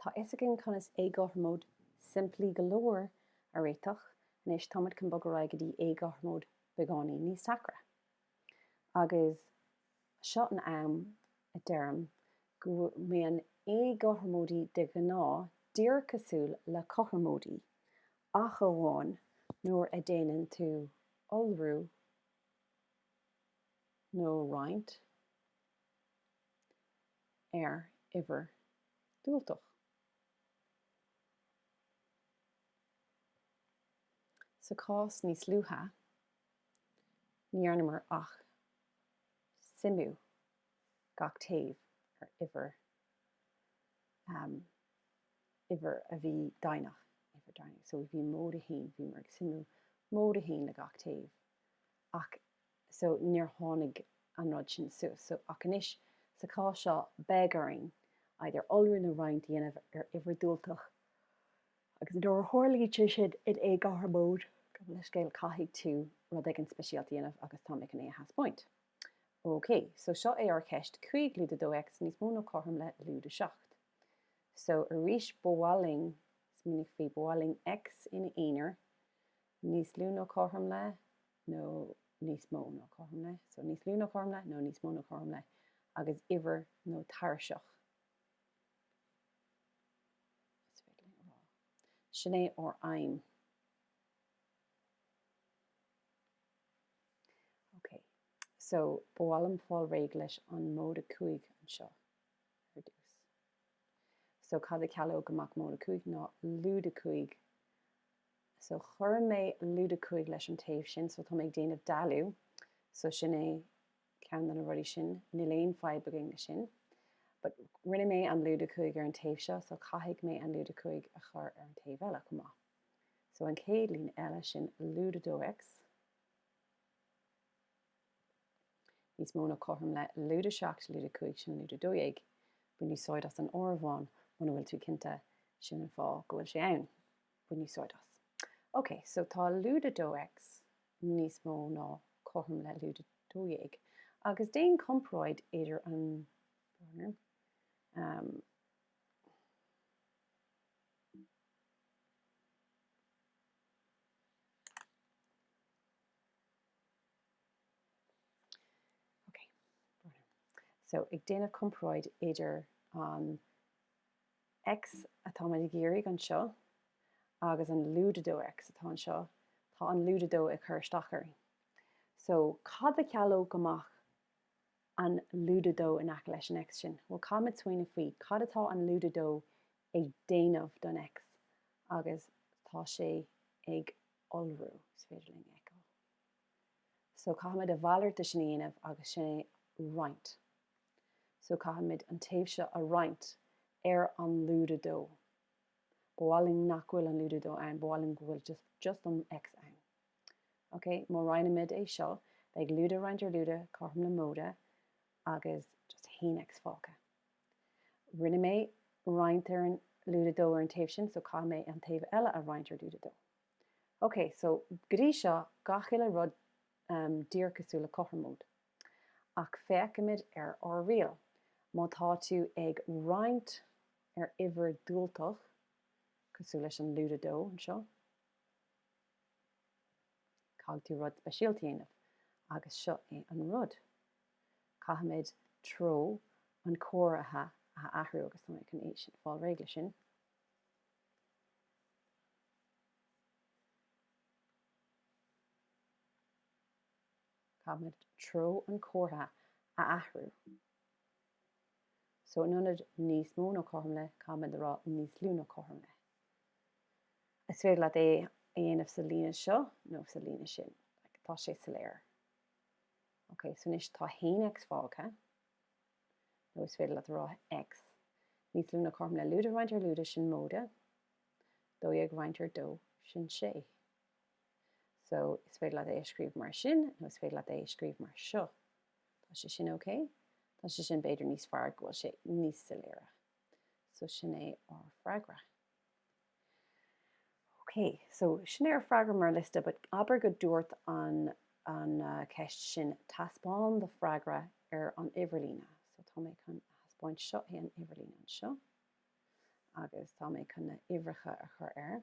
Tá fhios againn conas éagothromóidí simplí go leor a réiteach, anois táimid chun bogadh ar aghaidh go dtí éagothromóidí beagáinín níos deacra. Agus seo an am a deirim go mbíonn éagothromóidí de ghnáth díreach cosúil le cothromóidí, ach amháin nuair a déanann tú iolrú nó roinnt. ar uimhir diúltach. Sa chás níos luaithe, ní dhearnamar ach suimiú gach taobh ar uimhir uimhir a bhí deimhneach uimhir deimhneach so bhí móide a haon bhíomar ag suimiú móide a haon le gach taobh ach so níor tháinig an rud sin suas so ach anois sa chás seo beidh orainn either iolrú nó roinnt a dhéanamh ar uimhir diúltach agus nuair a tharlaíonn sé sin in éagothromóid gabh mo leithscéal caithfidh tú rud éigin speisialta a dhéanamh agus tá mé chun é a thaispeáint. OK, so seo é ár gceist 5 lúide 2X níos mó nó cothrom le lúide 7. So arís ba mhaith linn smaoinigh faoi ba mhaith linn X ina aonar níos lú nó cothrom le nó níos mó nó cothrom le so níos lú nó cothrom le nó níos mó nó cothrom le agus uimhir nó tairseach is féidir linn a rá sin é ár aidhm ok so ba mhaith liom fáil réidh leis an móide cúig anseo ar dtús so cad a chealódh amach móide cúig ná lúide cúig So cuirfidh mé lúide cúig leis an taobh sin, so tá mé ag déanamh dealú, so sin é ceann de na rudaí sin, níl aon fadhb againn leis sin. But rinne mé an lúide cúig ar an taobh seo, so caithfidh mé an lúide cúig a chur ar an taobh eile chomh maith. So an chéad líne eile sin lúide 2x, níos mó ná cothrom le lúide 7, lúide 5 sin lúide 12. Bain úsáid as an áireamhán muna bhfuil tú cinnte, sin an fáth go bhfuil sé ann. Bain úsáid as. OK, so tá lúide 2X níos mó ná cothrom le lúide 12, agus déan comparáid idir an, So ag déanamh comparáid idir an X atáimid ag iarraidh anseo agus an lúide 2X atá anseo, tá an lúide 2 ag cur isteach orainn. So, cad a chealódh amach an lúide 2 in aice leis an X sin? Bhuel, caithfimid smaoineamh faoi cad atá an lúide 2 ag déanamh don X agus tá sé ag iolrú, is féidir linn a fheiceáil. So, caithfimid a mhalairt de sin a dhéanamh agus sin é roinnt. so caithfimid an taobh seo a roinnt ar an lúide dó. Ba mhaith linn nach bhfuil an lúide dó ann, ba mhaith linn go bhfuil just an X ann. Ok, má roinnimid é seo, beidh lúide roinnt ar lúide cothrom le móide agus just 1X fágtha. Rinne mé roinnt ar an lúide dó ar an taobh sin, so caithfidh mé an taobh eile a roinnt ar lúide dó. Ok, so go dtí seo, gach uile rud díreach cosúil le cothromóid. Ach feicimid ar ár riail. Má tá tú ag roinnt ar uimhir dhiúltach, cosúil leis an lúide 2 anseo, caithfidh tú rud speisialta a dhéanamh agus seo é an rud. Caithfimid treo an chomhartha a athrú agus tá mé chun fáil réidh leis sin. caithfimid treo an chomhartha a athrú so in ionad níos mó nó cothrom le, caithfimid a rá níos lú nó cothrom le. Is féidir leat é a dhéanamh sa líne seo nó sa líne sin. Tá sé soiléir. Ok, so anois tá 1x fágtha. Nó is féidir leat a rá x níos lú nó cothrom le lúide roinnt ar lúide sin móide. 12 roinnt ar 2 sin 6. So, is féidir leat é a scríobh mar sin, nó is féidir leat é a scríobh mar seo. Tá sé sin ok? Tá sé sin b'fhéidir níos fearr go bhfuil sé níos soiléire. So, sin é ár freagra. Ok, so sin é ár freagra mar liosta, but abair go dúirt an, an ceist sin taispeáin do freagra ar an uimhirlíne. So, tá mé chun thaispeáint seo é an uimhirlíne anseo, agus tá mé chun na uimhreacha a chur air.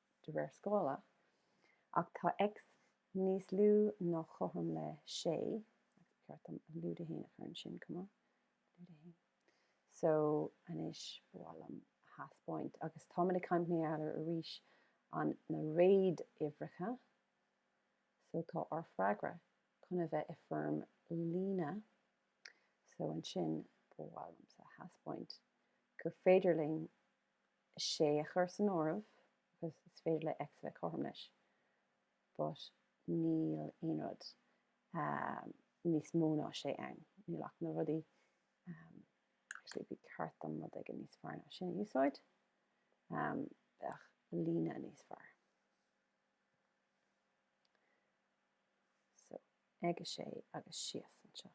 de réir scála, ach tá X níos lú nó cothrom le 6 agus ba cheart dom lúide 1 a chur ansin chomh maith, lúide 1. So, anois ba mhaith liom a thaispeáint, agus táimid ag caint faoi R arís, an na réaduimhreacha. So tá ár freagra chun a bheith i foirm líne. So ansin ba mhaith liomsa a thaispeáint gur féidir linn 6 a chur san áireamh agus is féidir le X a bheith cothrom leis ach níl aon rud níos mó ná 6 ann. Níl ach na rudaí actually bhí ceart dom rud éigin níos fearr ná sin a úsáid bheadh líne níos fearr. So ag 6 agus síos anseo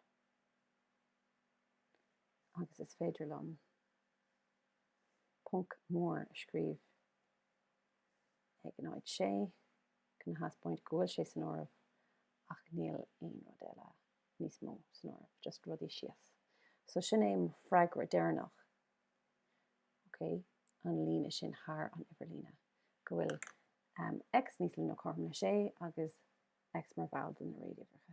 agus is féidir liom ponc mór a scríobh ag an áit sé chun a thaispeáint go bhfuil sé san áireamh ach níl aon rud eile níos mó san áireamh just rudaí síos so sin é mo freagra deireanach ok an líne sin thar an uimhir líne go bhfuil um, x níos lú ná cothrom le sé agus x mar bhall de na réaduimhreacha.